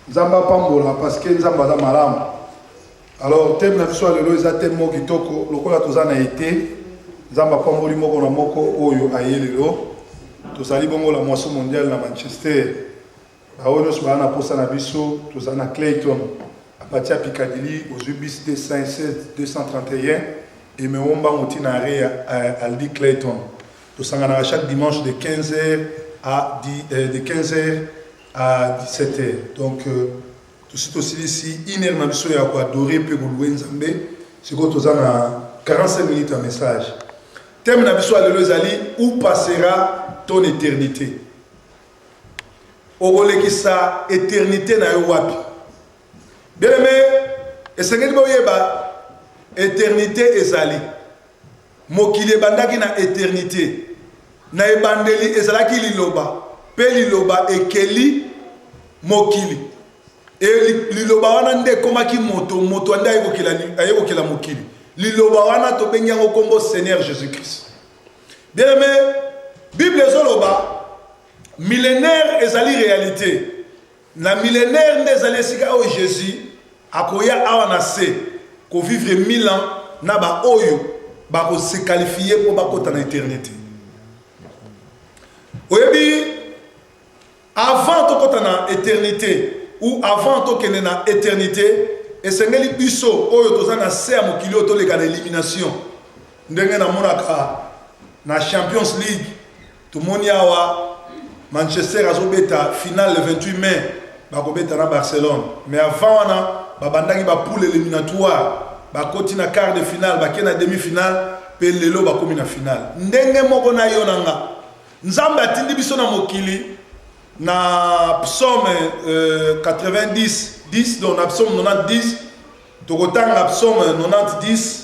Nzambe apambola parce que Nzambe aza malamu. Alors thème na biso lelo eza thème moko kitoko lokola toza na été. Nzambe apamboli moko na moko oyo aye lelo. Tozali bongo la moisson mondiale na Manchester. Baoyo nyonso baa na posa na biso toza na Clayton à partir ya Piccadilly ozwi bis 216 231 emeo mbango ntina are ya euh, Aldi Clayton. Tosanganaka chaque dimanche de 15h à 10, euh, de 15h à 17 heures donc euh, tosi tosilisi une heure na biso ya koadore mpe koluwe nzambe sikoyo toza na 45 minutes ya message teme na biso ya lelo ezali où passera ton éternité okolekisa éternité na yo wapi Bien aimé, esengeli boyeba eternite ezali. Mokili ebandaki na eternite. Na ebandeli ezalaki liloba, mpe liloba ekeli mokili. E, liloba wana nde ekomaki moto, moto nde aye kokela mokili. Liloba wana tobengi yango nkombo Seigneur Jésus-Christ. Bien aimé, Bible ezoloba millénaire ezali réalité. Na milenaire nde ezali esika oyo Jesus akoya awa na se ko vivre mille ans na ba oyo bako se qualifier mpo bakota na eternite. Oyebi avant tokota na eternite ou avant tokende na eternite esengeli biso oyo toza na se ya mokili oyo toleka na elimination ndenge namonaka na champions league Tomoni awa Manchester azobeta finale le 28 mai bakobeta na Barcelone mais avant wana babandaki ba poule eliminatoire bakoti na quart de finale bake na demi finale mpe lelo bakomi na finale ndenge moko na yo na nga nzambe atindi biso na mokili na psaume euh, 90 10 donc na psaume 90 10 tokotanga psaume 90 10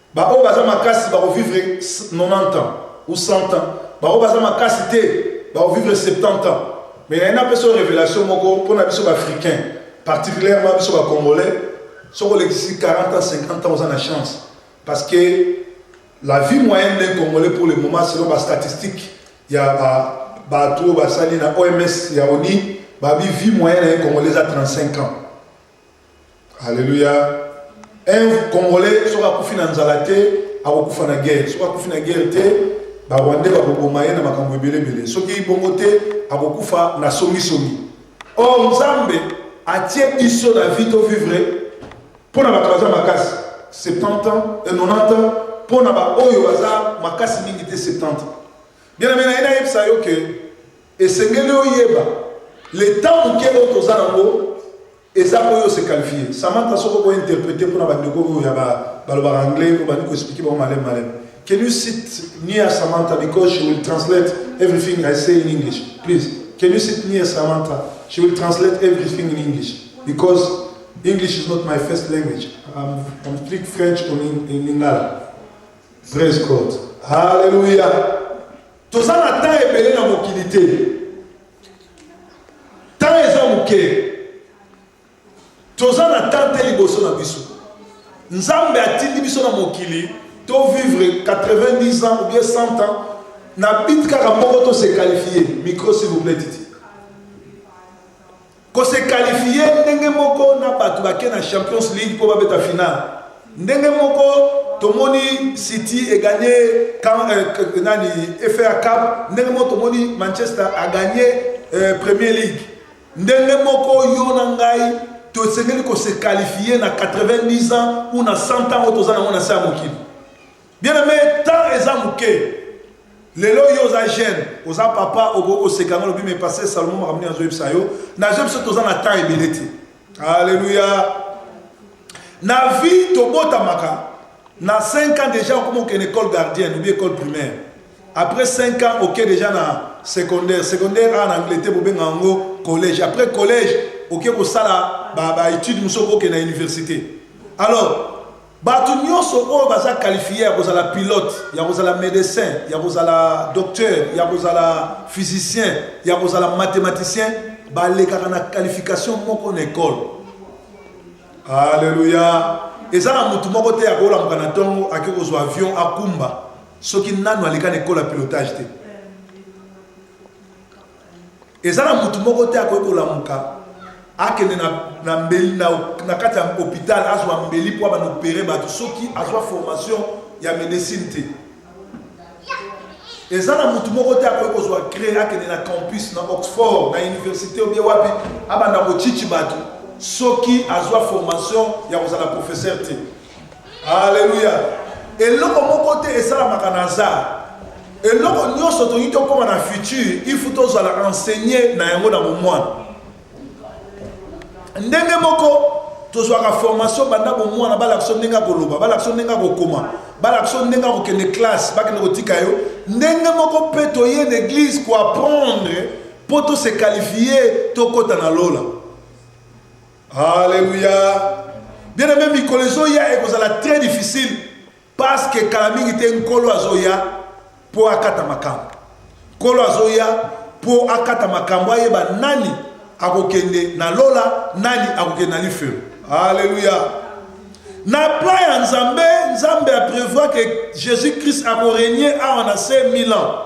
Ba oyo baza makasi bako vivre 90 ans ou 100 ans, ba oyo baza makasi te bako vivre 70 ans. Mais naye napesa yo revelation moko pona biso ba africains, particulièrement biso ba congolais, soki olekisi 40 ans 50 ans oza na chance parce que la vie moyenne d'un congolais pour le moment selon ba statistiques ya ba batu oyo basali na OMS ya ONI, ba bi vie moyenne ya un congolais eza 35 ans. Alléluia. Un Congolais soki akufi na nzala te akokufa na guerre, soki akufi na guerre te barwandais bakoboma ye na makambo ebelebele, soki bongo te akokufa na songisongi. Or Nzambe atie biso na vie to vivre mpo na bato baza makasi 70 ans et 90 ans mpo na baoyo baza makasi mingi te 70 bien amena ye nayebisa yo ke Esengeli oyeba le temps moke oyo toza nango eza oyo ose qualifie samantha soki okoy interprete mpona bandeko oyo ya balobaka anglais obandi koexplike bango maleme maleme can you sit near samantha because she will translate everything i say in english please can you sit near samantha she will translate everything in english because english is not my first language i'm, I'm speak french in, in lingala praise god hallelujah Toza na temps ebele na mokili te. Temps eza moke. Toza na temps te liboso na biso. Nzambe atindi biso na mokili to vivre 90 ans ou bien 100 ans na bit kaka moko to se qualifier. Micro s'il vous plaît Titi. Ko se qualifier ndenge moko na batu bake na Champions League mpo babeta finale. Ndenge moko tomoni City e gagner euh, nani FA Cup, ndenge moko tomoni Manchester a gagner euh, Premier League. Ndenge moko yo na ngai tosengeli ko se qualifier na 90 ans ou na 100 ans oyo toza nango na se ya mokili. Bien aime temps eza muke lelo yo oza jeune oza papa okoki koseka yango lobi me paster salomon makambo nini azoyebisa yo nazo biso toza na temps ebele te alleluya na vie tobotamaka na 5 ans déjà okoma okende école gardienne obi école primaire après 5 ans oke déjà na secondaire secondaire awa na angleterre bobenga yango collège après collège oke kosala baétude mosusu okoke na université alors Bato nyonso oyo baza qualifier ya kozala pilote, ya kozala medecin, ya kozala docteur, ya kozala physicien, ya kozala mathematicien, balekaka na qualification moko na ekole. Alleluia. Eza na motu moko te akolamuka na ntongo ake kozwa avion akumba soki nanu aleka na ekole ya pilotage te. Eza na mutu moko te akoki kolamuka akende na, na mbeli na, na kati ya hopital azwa mbeli mpo abanda opere bato soki azwa formation ya medecine te. Eza na mutu moko te akoki kozwa cree akende na campus na Oxford na universite obie wapi abanda kochichi bato soki azwa formation ya kozala professeur te. Alléluia. Eloko moko te esalamaka na hasard. Eloko nyonso tolingi tokoma na futur, il faut tozala enseigner na yango na bomwana. Ndenge moko tozwaka formation banda bomwana balakisa ndenge ya koloba balakisa ndenge ya kokoma balakisa ndenge ya kokende classe bakende kotika yo ndenge moko mpe toye na église koapprendre mpo tose qualifie tokɔta na lola Alléluia. Bien aimé mikolo ezoya ekozala très difficile parce que kala mingi te nkolo azoya mpo akata makambo. Nkolo azoya mpo akata makambo ayeba nani akokende na lola nani akokende na lifelo. Alléluia. Na plan ya Nzambe, Nzambe a prévoir que Jésus-Christ akorenie awa na se 1000 ans.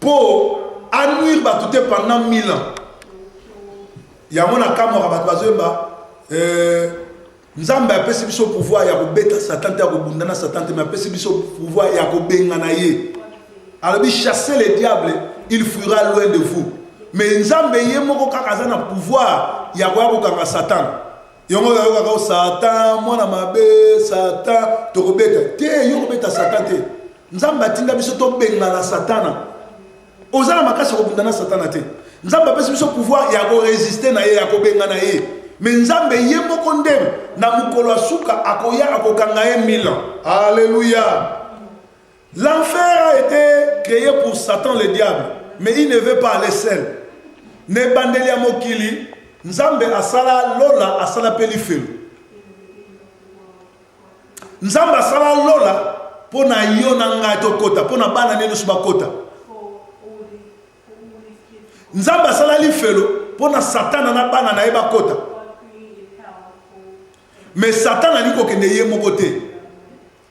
Po a nuire batu te pendant 1000 ans. Yango na kamwaka batu bazoyemba euh, Nzambe apesi biso pouvoir ya kobeta Satan te ya kobunda na Satan te mais apesi biso pouvoir ya kobengana ye. Alobi chasser le diable, il fuira loin de vous. Mais Nzambe ye moko kaka aza na pouvoir ya koya kokanga Satan. yango oyokaka satan mwana mabe satan tokobeta te yo kobeta satan te nzambe atinda biso tobengana satana oza na makasi ya kobunda na satana te nzambe apesi biso pouvoir ya koresiste na ye ya kobengana ye me nzambe ye moko nde na mokolo ya suka akoya akokanga ye milan aleluya L'enfer a été créé pour Satan le diable, mais il ne veut pas aller seul. Na ebandeli ya mokili, Nzambe asala lola, asala mpe lifelo. Nzambe asala lola mpo na yo na ngai tokota, mpo na bana ne nyonso bakota. Nzambe asala lifelo mpo na Satana na bana na ye bakota. Mais Satana alingi kokende ye moko te.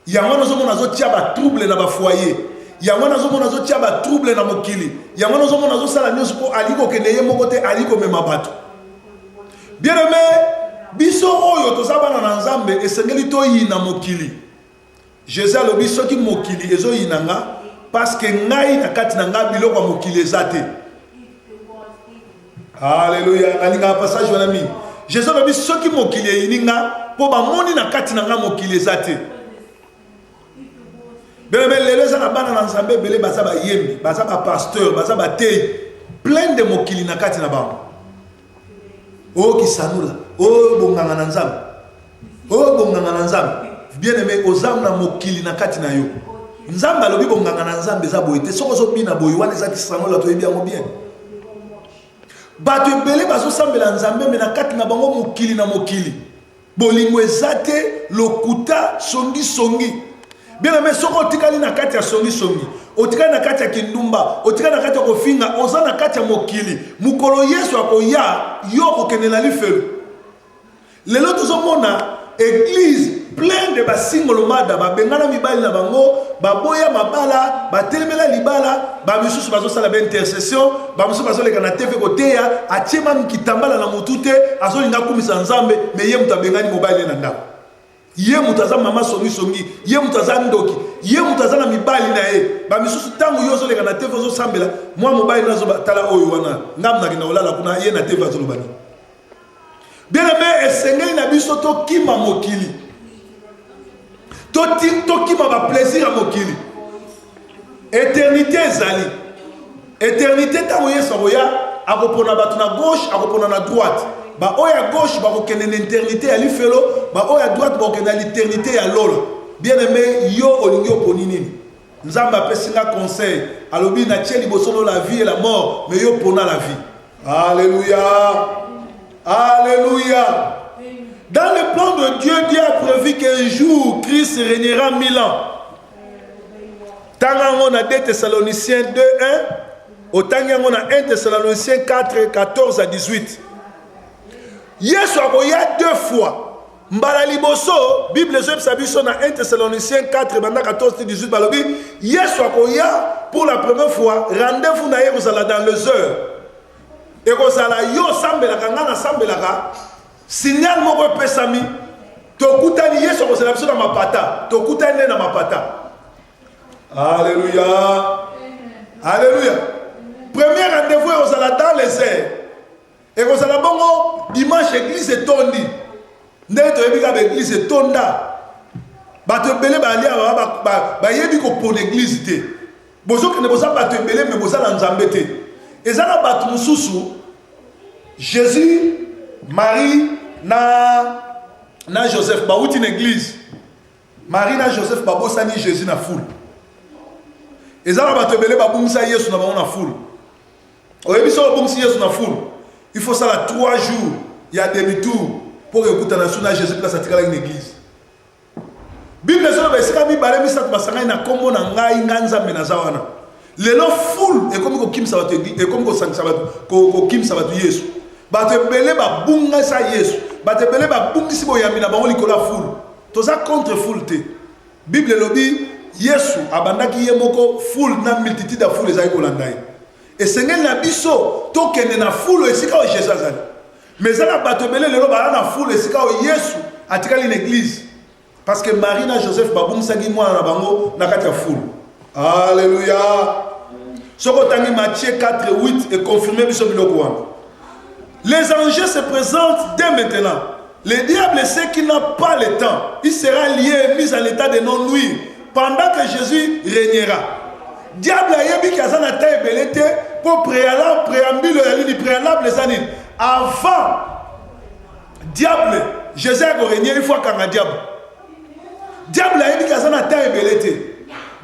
yango wana ozomona azotia batrouble na bafoyer yango wana azomona azotia batrouble na mokili yango wana ozomona azosala nyonso mpo alingi kokende ye moko te alingi komema bato bien aime biso oyo toza bana na nzambe esengeli toyina mokili jesus alobi soki mokili ezoyina nga parceke ngai na kati na ngai biloko ya mokili eza te Alléluia. Nalingaka passage wana mingi. Jésus alobi soki mokili eyini nga mpo bamoni na kati na nga mokili eza te. Belebe lelo eza na bana na Nzambe ebele baza bayembi, baza ba pasteur, baza bateyi plein de mokili na kati na bango. O kisanula, o bonganga na Nzambe. oyo bonganga na nzambe bien aime oza na mokili na kati na yo nzambe alobi bonganga na nzambe eza boye te soki ozobina boye wana eza kisanola toyebi yango bien bato ebele bazosambela nzambe me na kati na bango mokili na mokili bolingo eza te lokuta songisongi bien aime soki otikali na kati ya songisongi otikali na kati ya kindumba otikali na kati ya kofinga oza na kati ya mokili mokolo yesu akoya yo okokende na lifelo Lelo tozomona eglise plein de basingolomada babengana mibali na bango baboya mabala batelemela libala bamisusu bazosala baintercession bamisusu bazoleka na tv koteya atie mami kitambala na motu te azolinga akumisa nzambe me ye moto abengani mobali ye na ndako ye moto aza mama songisongi ye moto aza ndoki ye moto aza na mibali na ye bamisusu ntango yo ozoleka na tv ozosambela mwa mobali nazobatala oyo wana ngamnakenda kolala kuna ye na tv azolobani bien aime esengeli na biso tokima mokili tokima baplaisir ya mokili eternité ezali eternité ntango yesu akoya akopona bato na gauche akopona na droite baoyo ya gauche bakokende na eternité ya lifelo baoyo ya droite bakokende na liternité ya lola bien aime yo olingi oponi nini Nzambe apesi nga conseil alobi na tie liboso no la vie et la mort mais yo pona la vie. Alléluia. Alléluia. Dans le plan de Dieu, Dieu a prévu qu'un jour Christ régnera mille ans. Tanga ngo na 2 Thessaloniciens 2 1 otangi yango na 1 Thessaloniciens 4 14 à 18. Yesu akoya deux fois mbala liboso bible ezoyebisa biso na 1 thessaloniciens 4 banda 14 ti 18 balobi yesu akoya pour la première fois rendez-vous na ye ekozala dans les heures ekozala yo osambelaka ngai nasambelaka signal moko epesami tokutani yesu akozala biso na mapata tokutani nde na mapata alleluya alleluya premier rendez-vous ekozala dans les heures Ekozala bongo dimanche eglise etondi. Ndenge toyebi kaka eglise etonda. Bato ebele bali awa bayebi kopona eglise te. Bozokende boza bato ebele me boza na Nzambe te. Eza na bato mosusu Jésus, Marie na na Joseph bawuti na eglise. Marie na Joseph babosani Jésus na foule. Eza na bato ebele babungisa Yesu na bango na foule. oyebi soki obungisi yesu na fulu il faut sala 3 jours ya demi tour mpo okutana su na jésus place atikalaki na église bible ezoloba esika mibale misato basangani na nkombo na ngai ngai nzambe naza wana lelo fulu ekomi kokimisa bato ekomi kosangisa bato kokimisa bato yesu bato ebele babungisa yesu bato ebele babungisi boyambi na bango likolo ya fulu toza contre fulu te Bible elobi Yesu abandaki ye moko foule na multitude ya foule ezali kolanda ye. Esengeli na biso tokende na foule esika oyo Jésus azali. Mais eza na bato ebele lelo bala na foule esika oyo Yesu atikali na église. Parce que Marie na Joseph babungisaki mwana na bango na kati ya foule. Alléluia. Soko tangi Matthieu 4 8 et confirmer biso biloko wana. Les anges se présentent dès maintenant. Le diable sait qu'il n'a pas le temps. Il sera lié et mis en état de non nuire pendant que Jésus régnera. Diable ayebi ki aza na temps ebele te mpo préalable préambule ya nini préalable eza nini avant diable Jésus akoregne il faut akanga diable. Diable ayebi ki aza na temps ebele te.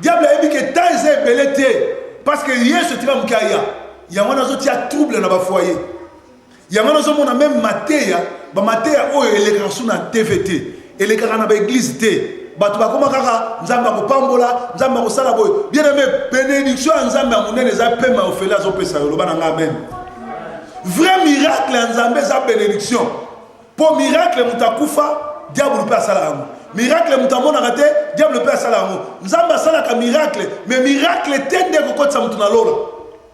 Diable ayebi ke temps eza ebele te parce que Yesu tika moke aya. Yango nazotia trouble na ba foyer. yango wana ozomona meme mateya bamateya oyo elekaka su na tv te elekaka na baeglize te bato bakoma kaka nzambe akopambola nzambe akosala boye bien aime benediction ya nzambe ya monene eza pema ya ofele azopesa yo loba na ngai amen vrai miracle ya nzambe eza benediction mpo miracle moto akufa diabulu mpe asala yango miracle moto amonaka te diabulu mpe asala yango nzambe asalaka miracle me miracle te nde ekokotisa moto na lola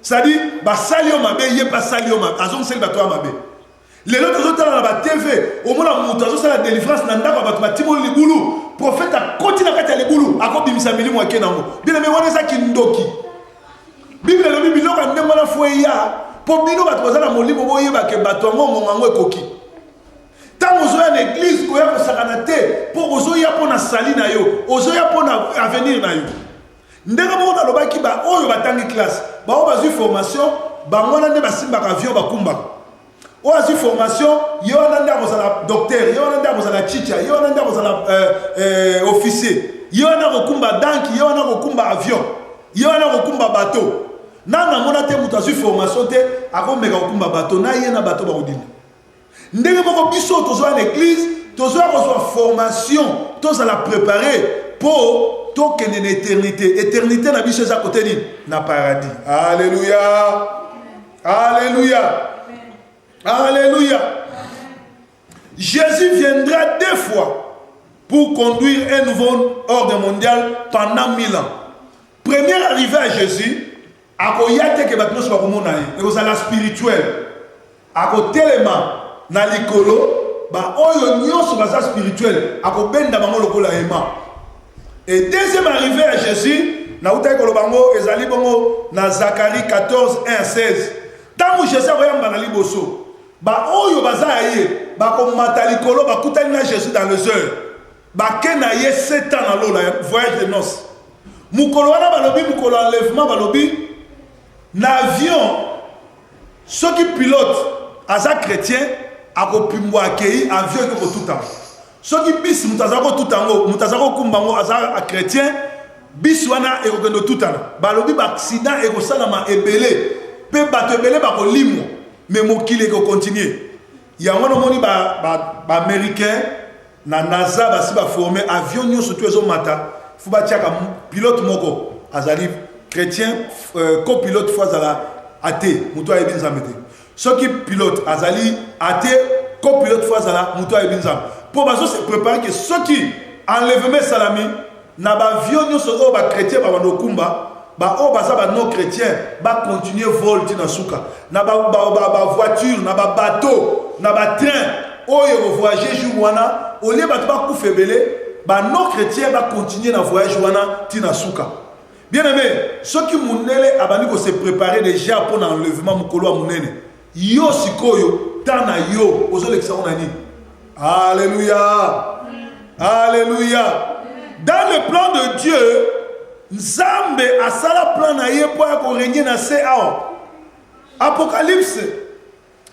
cestadire basali yo mabe ye mpe asali yo mabe azongiseli bato ya mabe lelo tozotala na batv omona moto azosala delivrance na ndako ya bato batimoli libulu profete akoti na kati ya libulu akobimisa milimo ake nango bileme wana eza kindoki biblia elobi biloko ya ndenge wana fo eya mpo bino bato baza na molimo boyebake bato yango ngonga yango ekoki ntango ozoya na eglize koya kosakana te mpo ozoya mpo na sali na yo ozoya mpo na avenir na yo Ndenge moko nalobaki ba oyo batangi classe, ba oyo bazui formation, bango wana nde basimbaka avion bakumbaka. Oyo azui formation, ye wana nde akozala docteur, ye wana nde akozala chicha, ye wana nde akozala euh, euh, officier, ye wana akokumba danki, ye wana akokumba avion, ye wana akokumba bateau. Nanu namona te moto azui formation te akomeka kokumba bateau, na ye na bateau bakodinda. ndenge moko biso tozoya na eglize tozoya kozwa formation tozala prepare mpo tokende na eternité eternité na biso eza kote nini na paradis alleluya alleluya alleluya jésus viendra deux fois pour conduire un nouveau ordre mondial pendant mille ans première arrivée à jésus Akoya te ke bato nionso bakomona ye. Ekozala spirituel. Akotelema na likolo, ba oyo nionso baza spirituel, akobenda bango lokola hema. Et deuxième arrivee ya Jesus, nautaki koloba yango, ezali bongo na Zacharie 14, 1 à 16. Tango Jesus akoyamba na liboso, ba oyo baza ya ye, bakomata likolo, bakutani na Jesus dans les heures. bake na ye sept ans na lola ya voyage de noce mokolo wana balobi mokolo enlèvement balobi na avion soki pilote aza chrétien akopimbwa akei avion eke kotutama soki bisi moto aza kotuta yango moto aza kokumba yango aza chrétien bisi wana ekokende otutana balobi baaccident ekosalama ebele mpe bato ebele bakolimwa me mokili ekokontinue yango wana omoni baaméricain ba, ba na nasa basi baforme avion nyonso tu ezomata fo batiaka pilote moko azali chrétien euh, copilote fo azala ate moto ayebi nzambe te soki pilote azali ate copilote fo azala moto ayebi nzambe mpo bazose prépare ke soki enlèvement esalami Na ba avion nionso oyo ba chretiens ba banda okumba, ba oyo baza ba non chretiens ba continuer vol ti na suka. Na ba ba voiture, na ba bateau, na ba train oyo eko voyager jour wana, au lieu batu ba kufa ebele, ba non chretiens ba continuer na voyage wana ti na suka. Bien aime, soki mundele abandi ko se preparer dejà pona enlèvement mukolo ya munene, Yo sikoyo temps na yo ozolekisa ngo na nini? Alléluia. Alléluia. Dans le plan de Dieu, Nzambe asala plan na ye mpo ya korenye na se awa. Apocalypse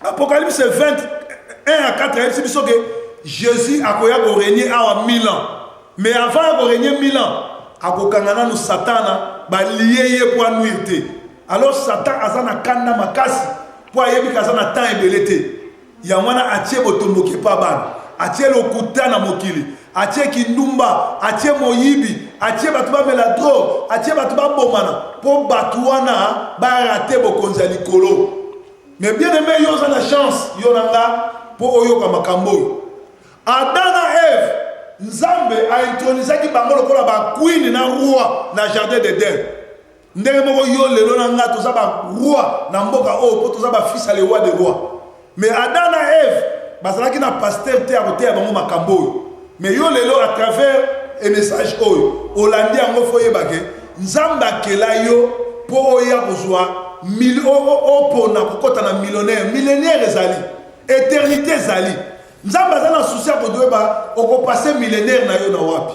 Apocalypse 20 1 à 4 ayebisi biso ke Jésus akoya korenye awa 1000 ans. Mais avant ya korenye 1000 ans, akokanga nanu Satana balie ye mpo anuire te. alors satan aza na kanda makasi mpo ayebi ke aza na temps ebele te yango wana atie botomboki epa bana atie lokuta na mokili atie kindumba atie moyibi atie bato bamela droge atie bato babomana mpo bato wana barate bokonzi ya likolo me bien aime yo oza na chance yo na nga mpo oyoka makambo oyo ada na eve nzambe aintronisaki bango lokola bakwini na roi na jardin d'eden ndenge moko yo lelo na nga toza baroi na mboka oyo oh, mpo toza bafils ya le roi de roi mais adam na eve bazalaki na paster te ya koteya bango makambo oyo mais yo lelo à travers emessage oyo olandi yango fo oyebake nzambe akela yo mpo oya kozwa opona kokɔta na millionnaire millionnaire ezali eternité ezali nzambe aza na susi ya kodoyeba okopase millionnaire na yo na wapi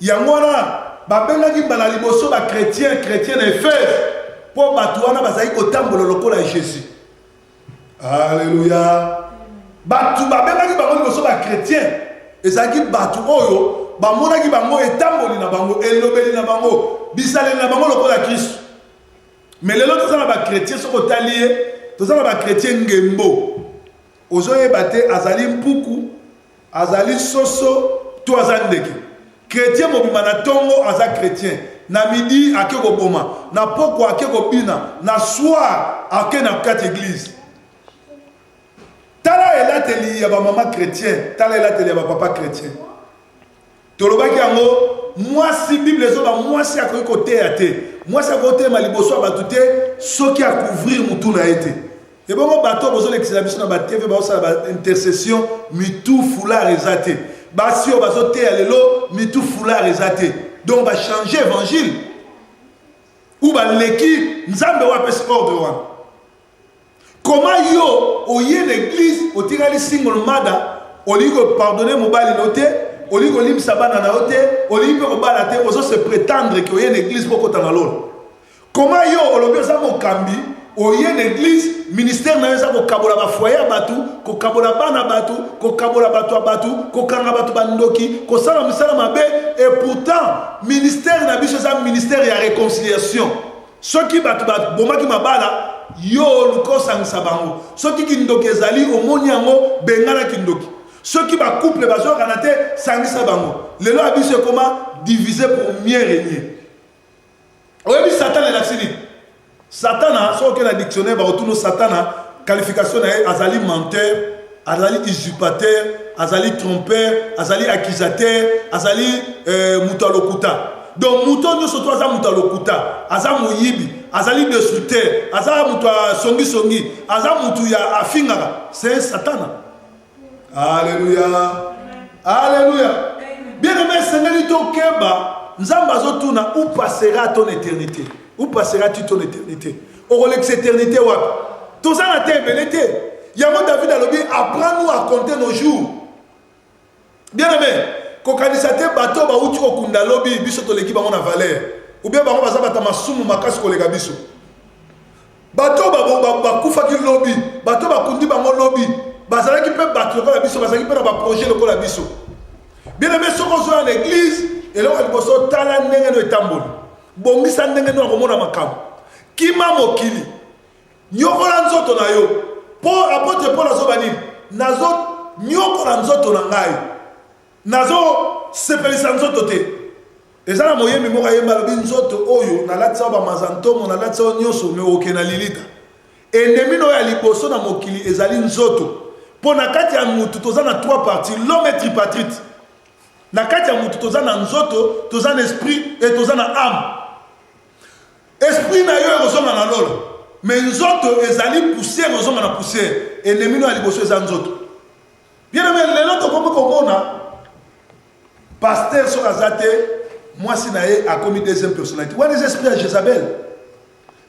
Yango wana, babengaki mbala ya liboso bakretien kretien na Efese, mpo bato wana bazalaki kotambola lokola Jesus. Aleluya! Bato babengaki bango liboso bakretien, ezalaki bato oyo bamonaki bango etamboli na bango, elobeli na bango, bizaleli na bango lokola Kristo. Mais lelo toza na bakretien, soki otali ye, toza na bakretien ngembo. Ozoyeba te azali mpuku, Azali soso to aza ndeke? Chretien mobimba na tongo aza chretien, na midi ake koboma, na pokwa ake kobina, na soir ake na kati eglise. Tala elateli ya ba mama chretien, tala elateli ya ba papa chretien. Tolobaki yango mwasi bible ezoba mwasi akoki koteya te mwasi akoki kotelema liboso ya bato te soki akouvrir motu na ye te ebongo bato oyo bozolekisela biso na batv baosala baintercession mitu foulard eza te basi oyo bazoteya lelo mitu foulard eza te donc bachange évangile ou baleki nzambe oyo apesi ordre wana Comment yo oye na église otikali single mother olingi ko pardonner mobali no te olingi kolimbisa bana na yo te olingi mpe kobala te ozo se prétendre ke oye na église mpo okota na lola koma yo olobi oza mokambi oye na église ministère na yo eza kokabola bafoye ya bato kokabola bana bato kokabola bato ya bato kokanga bato bandoki kosala mosala mabe et pourtant ministère na biso eza ministère ya réconciliation Soki bato babomaki mabala, yo oluka osangisa bango. Soki kindoki ezali, omoni yango, bengana kindoki. Soki ba couple bazoyokana te, sangisa bango. Lelo ya biso ekoma diviser pour mieux regner. Oyebi Satana elakisi nini? Satana, soki okei na dictionnaire bakotuna yo Satana qualification na ye azali menteur, azali usurpateur azali trompeur azali accusateur azali euh, moto ya lokuta donc moto nyonso to aza moto ya lokuta aza moyibi azali destructeur aza moto ya songisongi aza moto ya afingaka se satana aleluya aleluya bien aime esengeli tokeba nzambe azotuna ou passera ton éternité ou passera tu ton éternité okolekisa eternité wapi toza na te ebele te yango david alobi apprend nous à compter nos jours bien aimé kokanisa te bato bauti kokunda lobi biso toleki bango na valeur ubie bango baza bata masumu makasi koleka biso bato bakufaki lobi bato bakundi bango lobi bazalaki mpe bato lokola biso bazalaki mpe na baprojet lokola biso bien aimé soki ozoya na église eloko ya liboso tala ndenge no etamboli bongisa ndenge nini akomona makambo kima mokili nyokola nzoto na yo mpo apotre paul azoba nini nazonyokola nzoto na ngai nazosepelisa nzoto te eza na moyembi moko ayemba alobi nzoto oyo nalatisa yo bamaza ntomo nalatisa yo nyonso me oke na lilita endemi na oyo ya liboso na mokili ezali nzoto mpo na kati ya motu toza na trois parti lome tripatrite Na kati ya mutu toza na nzoto, toza na esprit et toza na ame. Esprit na yo ekozonga na lola, mais nzoto ezali poussière ekozonga na poussière. Ennemi no ya liboso eza nzoto. Bien aimé, lelo tokomi komona pasteur soki aza te mwasi na ye akomi deuxième personnalité wana eza esprit ya jezabel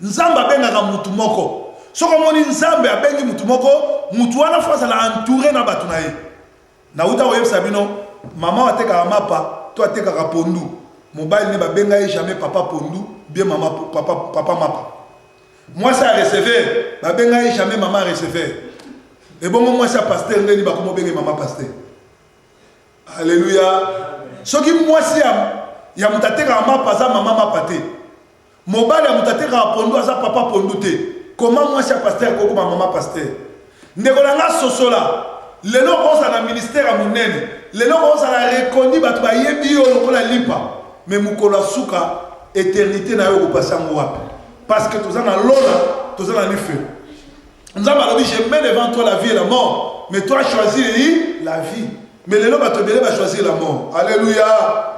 nzambe abengaka mutu moko soki omoni nzambe abengi mutu moko mutu wana fo azala entouré na bato na ye Nawuta koyebisa bino maman atekaka mapa to atekaka pondu mobali ne babenga ye jamais papa pondu bien mama papa, papa mapa mwasi ya receveur babenga ye jamais mama receveur ebongo mwasi ya pasteur ndeni bakomobenge mama pasteur aleluya soki mwasi ya, ya moto atekaka mapa aza mama mapa te Mobali ya moto atekaka pondu aza papa pondu te comment mwasi ya pasteur akokoma mama pasteur ndeko na nga sosola lelo okozala na ministère ya monene lelo okozala reconnu bato bayebi yo lokola limpa mais mokolo ya suka eternité na yo okopasa yango wapi parce que toza na lola toza na lifelo nzambe alobi je mets devant toi la vie et la mort mais toi choisir la vie mais lelo bato ebele bachoisir la mort alleluya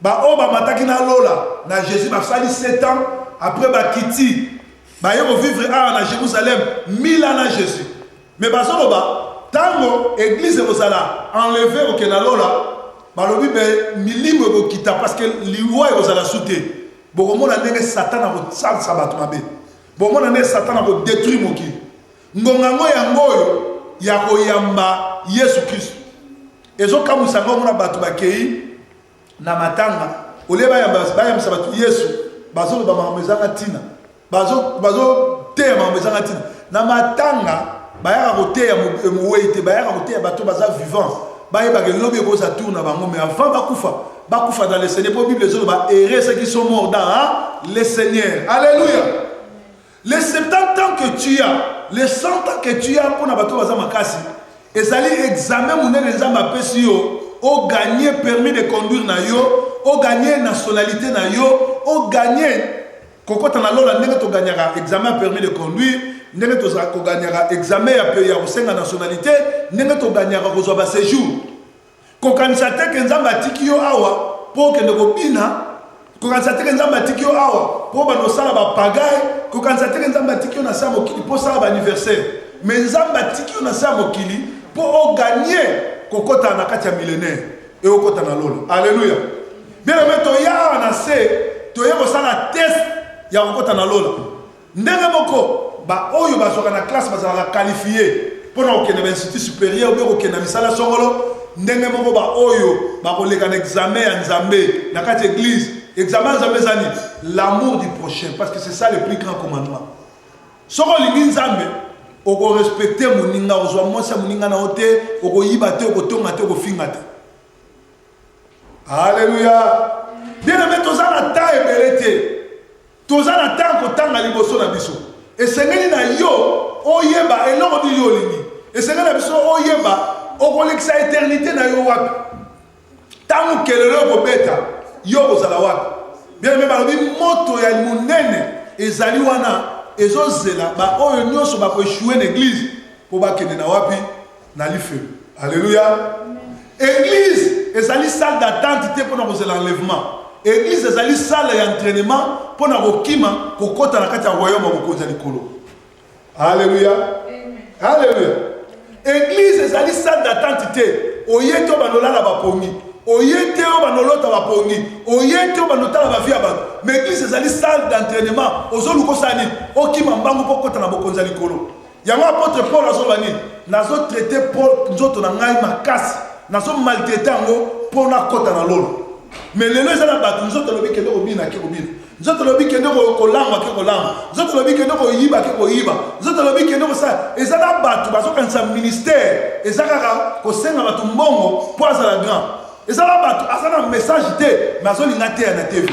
Ba oyo ba mataki n'a lola na Jesus ba sali 7 ans après ba kiti ba ye ko vivre awa na Jerusalem 1000 ans na Jesus mais bazo loba tango eglise eko zala enleve ko kenda lola ba lobi be milimo eko kita parce que liwa eko zala su te boko mona ndenge satan ako salisa batu mabe bo mona ndenge satan ako detruire mokili Ngonga yango yango oyo ya koyamba Yesu Kristo ezokamwisa yango omona bato bakei na matanga olie bayambisa bato Yesu bazoloba makambo ezanga ntina bazoteya makambo ezanga ntina na matanga bayaka koteya mowei te bayaka koteya bato baza vivant bayebaka elobi ekoza tour na bango mais avant bakufa bakufa dans le seigneur mpo bible ezoloba ere ceux qui sont morts dans le seigneur alleluya Les 70 ans que tu as, les 100 ans que tu as pona bato baza makasi, ezali examen munene Nzambe apesi yo, o gagner permis de conduire na yo, o gagner nationalite na yo, o gagner kokota na lola ndenge to gagnaka examen ya permis de conduire, ndenge tozala ko gagnaka examen ya kosenga nationalite, ndenge to gagnaka kozwa ba sejours. Kokanisa te ke Nzambe atiki yo awa po okende kobina, kokanisa te ke Nzambe atiki yo awa po obanda kosala ba pagaille, kokanisa te ke Nzambe atiki yo na se ya mokili po osala ba anniversaire. Mais Nzambe atiki yo na se ya mokili po o gagner kokota na kati ya millenaire et okota na lola. Alleluia! Bien-aime, toya awa na se, toye kosala test ya kokota na lola. Ndenge moko, baoyo bazwaka na classe bazalaka qualifie mpo na kokende na bainstitut superieur mpe kokende na misala songolo, ndenge moko baoyo bakoleka na examen ya Nzambe na kati ya eglise. Examen ya Nzambe eza nini? L'amour du prochain, parce que c'est ça le plus grand commandement. Soki olingi Nzambe, okorespecte moninga, ozwa mwasi ya moninga na yo te, okoyiba te, okotonga te, okofinga te. Alléluia. Bien aimé, toza na temps ebele te. Toza na temps ya kotanga liboso na biso. Esengeli na yo oyeba eloko nini yo olingi. Esengeli na biso oyeba okolekisa eternite na yo wapi. Ntango kelelo ekobeta, yo okozala wapi? Bien aime balobi moto ya monene ezali wana ezozela baoyo nyonso bakoeshue na eglize mpo bakende na wapi? na lifelo alleluya église ezali salle d'attente te mpo na kozela enlèvement église ezali salle ya entraînement mpo na kokima kokɔta na kati ya royaume ya mokonzi ya likolo alleluya alleluya église ezali salle d'attente te oye te obanolala bapongi oye te oyo banolota bapongi oye te oyo banotala bavi ya bato ma église ezali salle d'entraînement ozoluka osala nini okima mbangu mpo okɔta na bokonzi ya likolo Yango apotre Paul azoloba nini? Nazo traite po nzoto na ngai makasi, nazo maltraite yango po nakota na lola. Mais lelo eza na bato nzoto elobi kende kobina ake kobina, nzoto elobi kende kolangwa ake kolangwa, nzoto elobi kende koyiba ake koyiba, nzoto elobi kende kosala. Eza na bato bazokanisa ministère eza kaka kosenga bato mbongo po azala grand. eza na bato aza na message te me azolinga ateya na tv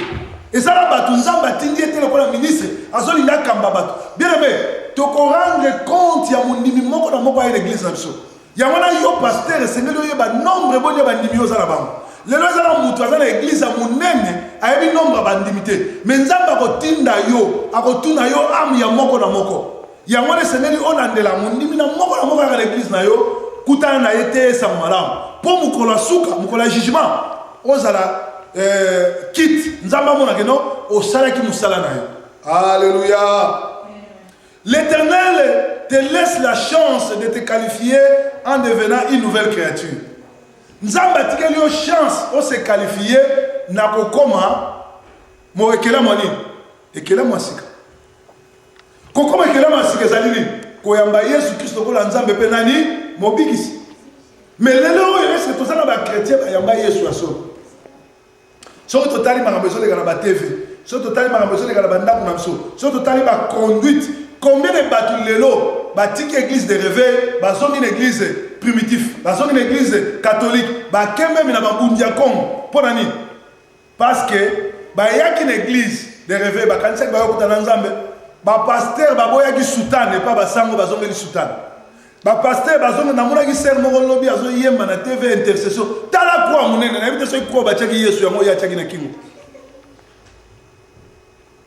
eza na bato nzambe atindi ye te lokola ministre azolinga akamba bato bien aime tokorendre compte ya mondimi moko na moko aye na eglise na biso yango na yo paster esengeli oyeba nombre boni ya bandimi oza na bango lelo eza na moto aza na eglize ya monene ayebi nombre ya bandimi te me nzambe akotinda yo akotuna yo ame ya moko na moko yango wana esengeli olandela mondimi na moko na moko yaka na eglize na yo kutana na ye te esango malamu mpo mokolo ya suka mokolo ya jugement ozala eh, kit nzambe amonake no osalaki mosala na yo alleluya l'éternel te laisse la chance de te qualifier en devenant une nouvelle créature nzambe atikeli yo chance ose qualifie na kokoma mo ekelamu ya nini ekelamu ya sika kokoma ekelama ya sika ezali nini koyamba yesu kristo lokola nzambe mpe nani mobikisi me lelo oyo ese toza na bakretien bayamba yesu ya solo soki totali makambo ezoleka na batv soki totali makambo ezoleka na bandako na biso soki totali baconduite combien de bato lelo batiki église de réveil bazongi na église primitif bazongi na église catholique bakembemi na babundi ya congo mpo na nini Parce que bayaki na eglise de reve bakanisaki bayokuta na nzambe bapastere baboyaki sutane epa basango bazongeli sutane bapastere bazonge namonaki sere moko lobi azoyemba na tv intercession tala kwa monene nayebi te soki kwa batiaki yesu yango oyo atiaki na kingo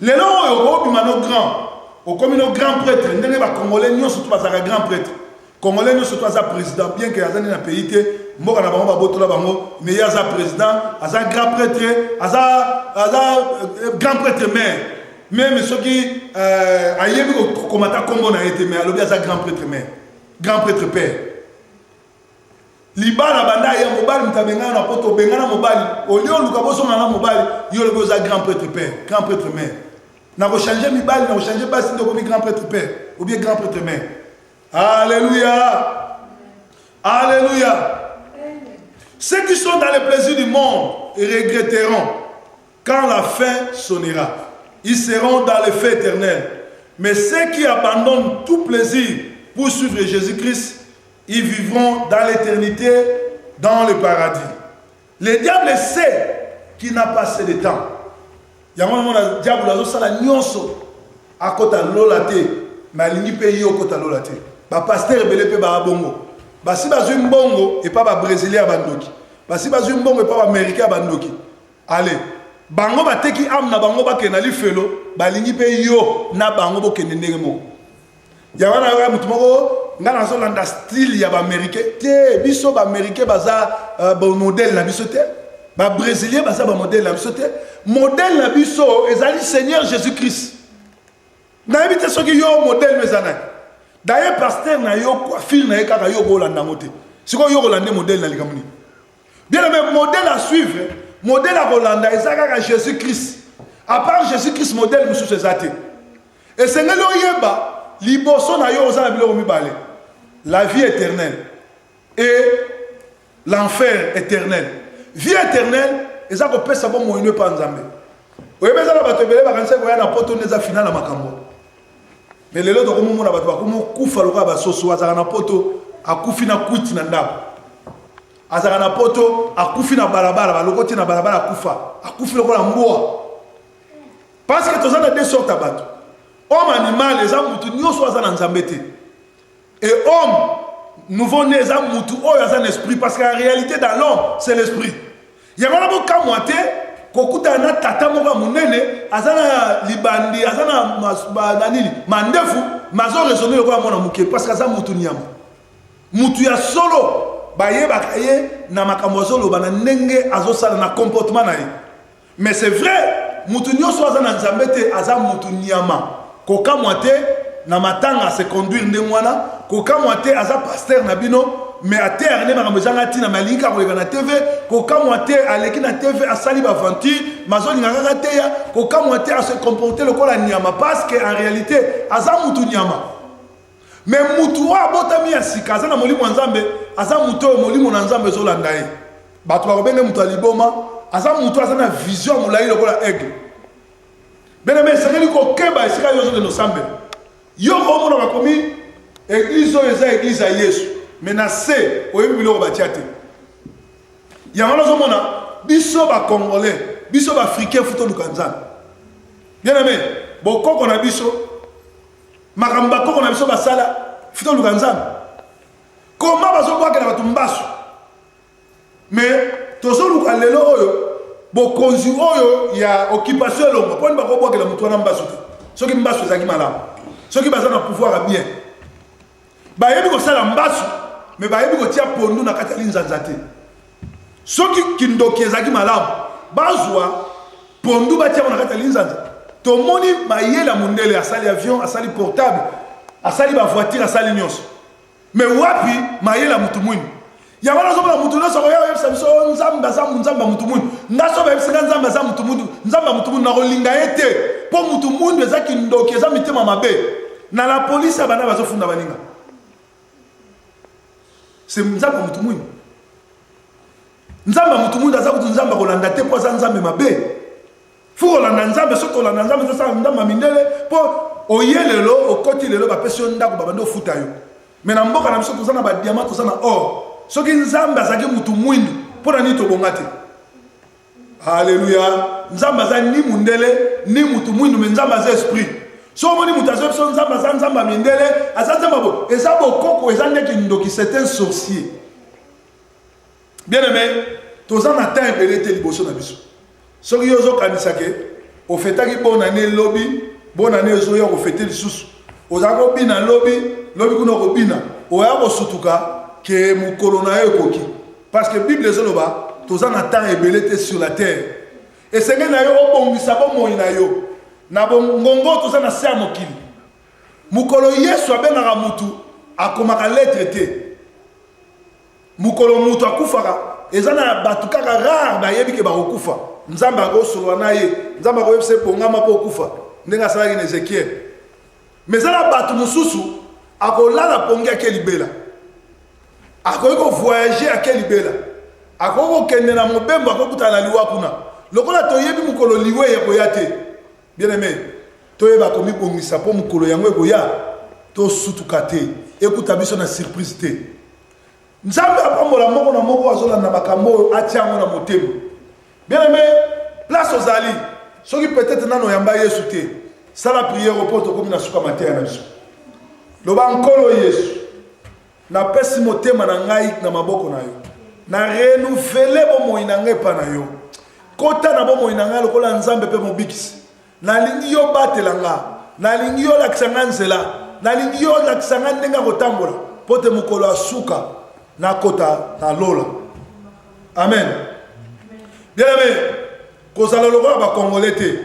Lelo oyo okobima no grand, okomi no grand pretre ndenge ba congolais nionso tout bazalaka grand pretre. Congolais nionso tout aza president bien que aza nde na pays te, mboka na bango babotola bango mais ye aza president, aza grand pretre, aza aza euh, grand pretre maire. Meme soki euh, ayebi kokoma ata kombo na ye te mais alobi aza grand pretre maire, grand pretre père. libala banda ya mobali moto abengana na poto obengana mobali olie oluka bozonga na mobali yo lobi oza grand prêtre père grand prêtre mère na kochange mibali na kochange basi nde okomi grand prêtre père obie grand prêtre mère alleluya alleluya ceux qui sont dans les plaisirs du monde regretteront quand la fin sonnera ils seront dans le feu éternel mais ceux qui abandonnent tout plaisir pour suivre Jésus-Christ Ils vivront dans l'éternité, dans le paradis. Le diable sait qu'il n'a pas assez de temps. yango omona diabolo azosala nyonso akota lola te me alingi mpe ye okota lola te bapastere ebele mpe baa bongo basi bazwi mbongo epa babrésilien ya bandoki basi bazwi mbongo epa baaméricain ya bandoki ale bango bateki ame na bango bakende na lifelo balingi mpe yo na bango bokende ndenge moko ya wana yoka moto moko ngai nazolanda style ya baaméricain te biso baaméricain baza uh, bamodele na biso te babrésilien baza bamodele na biso te modele na biso ezali seigneur jésus christ nayebi te soki yo modele no eza nani daye paster na yo coiffure na ye kaka yo okolanda yango te sikoyo yo okolande modele na likambo nini bien aime modele à suivre modele akolanda eza kaka jésus christ apart jésus christ modele mosusu eza te Esengeli oyeba liboso na yo oza na biloko mibale, la vie éternelle et l'enfer éternel. Vie éternelle eza kopesa bomoi no epa nzambe oyebi eza na bato ebele bakanisaki koya na poto nde eza final na makambo me lelo tokomomona bato bakomokufa lokola basoso azalaka na poto akufi na kwiti na ndako azalaka na poto akufi na balabala balokoti na balabala akufa akufi lokola mbwa parce que toza na deux sortes ya bato homme animal eza mutu nyonso aza na nzambe te et homme nouveau né eza mutu oyo aza na esprit parce que la réalité dans l'homme c'est l'esprit yango na bokamwa te kokutana na tata moko ya monene aza na libandi aza na nini mandefu mazo raisonne lokola mwana moke parce que aza mutu nyama mutu ya solo bayebaka ye na makambo azoloba na ndenge azosala na comportement na ye Mais c'est vrai, mutu nyoso aza na Nzambe te, aza mutu nyama. Kokamwa te na matanga se conduire ndenge wana, kokamwa te aza pasteur na bino, mais à terre ne makambo ezanga tina mais alingi kaka koleka na TV, kokamwa te aleki na TV asali ba aventure, mazolinga kaka teya, kokamwa te a se comporter lokola nyama parce que en réalité aza mutu nyama. Mais mutu oyo abotami ya sika aza na molimo ya Nzambe, aza mutu oyo molimo na Nzambe ezolanda ye. Bato bakobenge mutu ya liboma, aza mutu aza na vision molayi lokola aigle. Bename esengeli kokeba esika yo ozokende osambela. Yo omona bakomi eglise oyo eza eglise ya Yesu, mais na se oyebi biloko batia te. Yango nazomona biso ba Congolais, biso ba Africains futo luka Nzambe. Bien aimé, bokoko na biso makambo bakoko na biso basala fito luka nzambe koma bazobwakela bato mbasu me tozoluka lelo oyo bokonzi oyo ya occupation elongo mpo nini bakobwakela moto wana mbasu te soki mbasu ezalaki malamu soki baza na pouvoir ya bien bayebi kosala mbasu me bayebi kotia pondu na kati ya linzanza te soki kindoki ezalaki malamu bazwa pondu batia yango na kati ya linzanza tomoni mayele ya mondele asali avion asali portable asali bavoitire asali nyonso me wapi mayele ya motu mwini yango wana ozomona motu nyonso akoya oyebisa biso oyo oh, nzambe aza nzambe ya motu mundu nga so bayebisi nga nzambe aza motu mundu nzambe ya motu mundu nakolinga ye te mpo motu mundu eza kindoki eza mitema mabe na la polisi ya bana bazofunda baninga se nzambe ya motu mundu nzambe ya motu mundu aza kutu nzambe akolanda te mpo aza nzambe mabe fo kolanda nzambe soki kolanda nzambe ezosala ndambo ya mindele mpo oye lelo okoti lelo bapesi yo ndako babandi ofuta yo me na mboka na biso toza na badiama toza na or soki nzambe azalaki motu mwindu mpo na nini tobonga te aleluya nzambe aza ni mondele ni motu mwindu me nzambe aza esprit so omoni moto azwa biso nzambe aza nzambe ya mindele aza nzambe bo eza bokoko eza ndeki ndoki c'est un sorcier Bien aimé, toza na temps ebele te liboso na biso. Soki yo ozokanisa ke ofetaki bonne année lobi, bonne année ezoya okofete lisusu. Oza kobina lobi, lobi kuna okobina. Oya kosutuka ke mokolo na yo ekoki. Parce que Bible ezoloba toza na temps ebele te sur la terre. Esengeli na yo obongisa bomoi na yo na bongongo toza na se ya mokili. Mokolo Yesu abengaka mutu akomaka lettre te. mokolo moto akufaka eza na bato kaka rare bayebi ke bakokufa nzambe akosolola na ye nzambe akoyebisa epongama mpo okufa ndenge asalaki na ezekiele ma eza na bato mosusu akolala pongi ake libela akoki kovoyage ake libela akoki kokende na mobembo akokutana na liwa kuna lokola toyebi mokolo liwa eya koya te Bien aimé, toyeba komibongisa mpo mokolo yango ekoya tosutuka te ekuta biso na surprise te nzambe apambola moko na moko azolanda makambo oyo atya yango na motema bien aimé place ozali soki peut-être nano oyamba yesu te sala priere mpo tokomi na suka mateya na biso loba nkolo yesu napesi motema na ngai na maboko na yo na renouvele bomoi na ngai epa na yo kota na bomoi na ngai lokola nzambe mpe mobikisi nalingi yo batela nga nalingi yo olakisa nga nzela nalingi yo olakisa nga ndenge ya kotambola mpo te mokolo ya suka nakota na lola amen bien aime kozala lokola bakongole te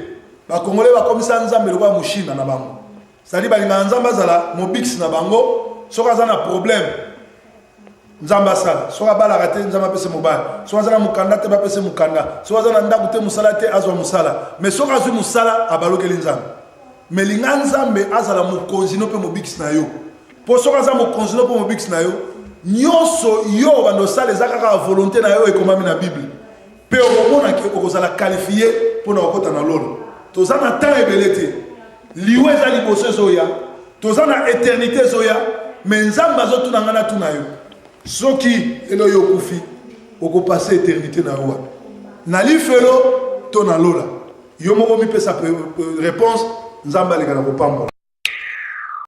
bakongole bakomisa nzambe lokola moshina na bango cetadire balingaka nzambe azala mobikisi na bango soki aza na problème nzambe asala soki abalaka te nzambe apese mobali soki aza na mokanda te bapese mokanda soki aza na ndako te mosala te azwa mosala mais soki azwi mosala abalokeli nzambe me linga nzambe azala mokonzi no mpe mobikisi na yo mpo soki aza mokonzi no mpe mobikisi na yo nyonso yo banda osala eza kaka volonté na yo ekomami na bible Mpe okomona ke okozala kalifie mpo na kokota na lola. Toza na temps ebele te, liwa eza liboso ezoya, toza na eternite ezoya, me Nzambe azotuna ngai natuna yo, soki lelo yo okufi okopase eternite na yo wapi? Na lifelo to na lola? Yo moko mipesa réponse, Nzambe aleka na kopambola.